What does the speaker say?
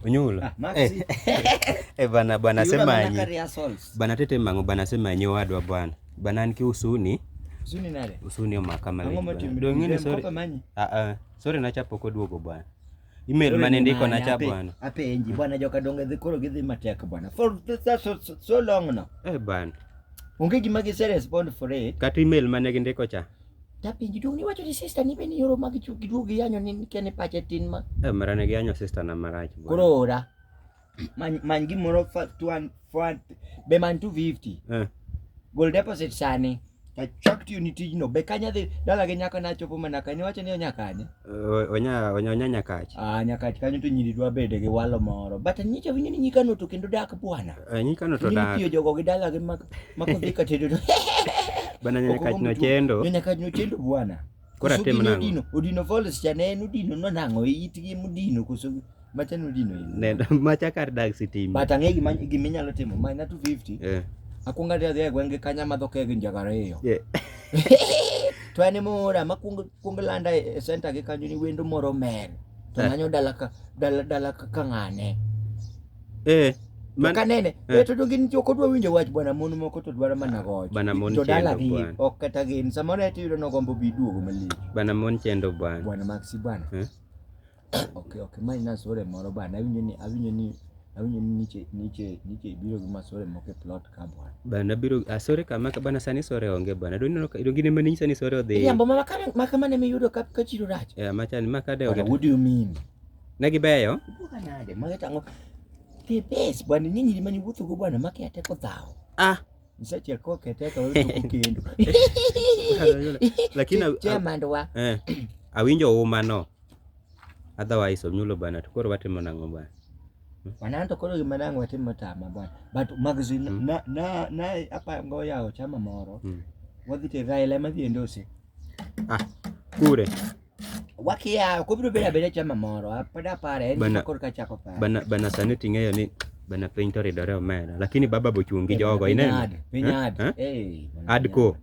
Unyula. Ah, eh. eh, bana bana sema nyi. Bana tete mango bana sema nyi wadwa bwana. Bana niki usuni. Usuni nale. Usuni o makama. Ndio ngine sorry. Ah ah. Sorry na chapo kwa duogo bwana. Email mane ndiko na cha bwana. Ape enji bwana joka donge dhikoro gidhi mateka bwana. For this so, so long now. Eh bwana. Ungeki magi serious bond for it. Kati email mane ndiko cha. Dapenji duong' niwacho ni sister ni be ni yoro mag chuo giduog giyanyo ni kia ni pache tin ma. Eh, mara ne giyanyo sister na marach. bwana. Koro ora. Many many gimoro fa tuan fuan be man 250. Eh. Gol deposit sani. Achak tiyo ni tijno. Be kanya dhi dala gi nyako na chopo mana kanye wacho ni onyakanye. onya onya onya nyakach ah nyakach kanyo to nyiri dwa bede gi walo moro but nyicha winyo ni nyikano to kendo dak bwana eh, nyikano to dak tiyo jogo gi dala gi mak mak dhi ka tedo bana nyakach no chendo nyakach no chendo bwana kora tem nango odino odino voles chane en odino no nango itgi mudino koso Macha nodino in. Nenda macha kar dag sitima. But ang'e gima gima inyalo timo. Mine na 250. Eh. Akwonga dhi e gwenge kanya madho keg njaga ariyo. Yeah. to en mora ma kwong kwong landa e center gi kanyo ni wendo moro mer. To eh. manyo dala ka dala dala ka ng'ane. Eh. Man, ka nene eh. to donge nitie ok odwa winjo wach bwana mon moko to dwaro mana eh, goch bwana mon to dala gi ok kata gin samoro eti yudo nogombo bi duogo malich bwana mon chendo bwana bwana maxi bwana eh? Ok ok mae en asore moro bana awinjo ni awinjo ni awinjo ni niche niche niche biro gi masore moko e plot ka bwana. Bana biro asore kama ka bana sani sore onge bana. Doni no doni gine mani sani sore odhi. Iyambo ma kama ma kama ne miyudo ka ka chiro rach. Yeah, machani ma kade But what do you mean? Ne gibeyo. Buka nade ma tango. The best bwana ni nyiri mani wuotho go bwana ma kia teko dhawo. Ah, Nisache ko keteka wewe tuko kendo. lakini Chemandwa. eh, awinjo uma no. Otherwise onyulo bana to koro watimo nang'o bana? Bana to koro gima nang'o watimo tama bana. But magazine mm. na na na apa ngo yao chama moro. Mm. Wadhi te Raila ma dhi endose. Ah, kure. Wakia kubiro beda beda chama moro. Apada pare en koro ka chako pare. Bana bana sani ting'eyo ni bana piny to ridore omera lakini baba bochungi jogo ineno ad ko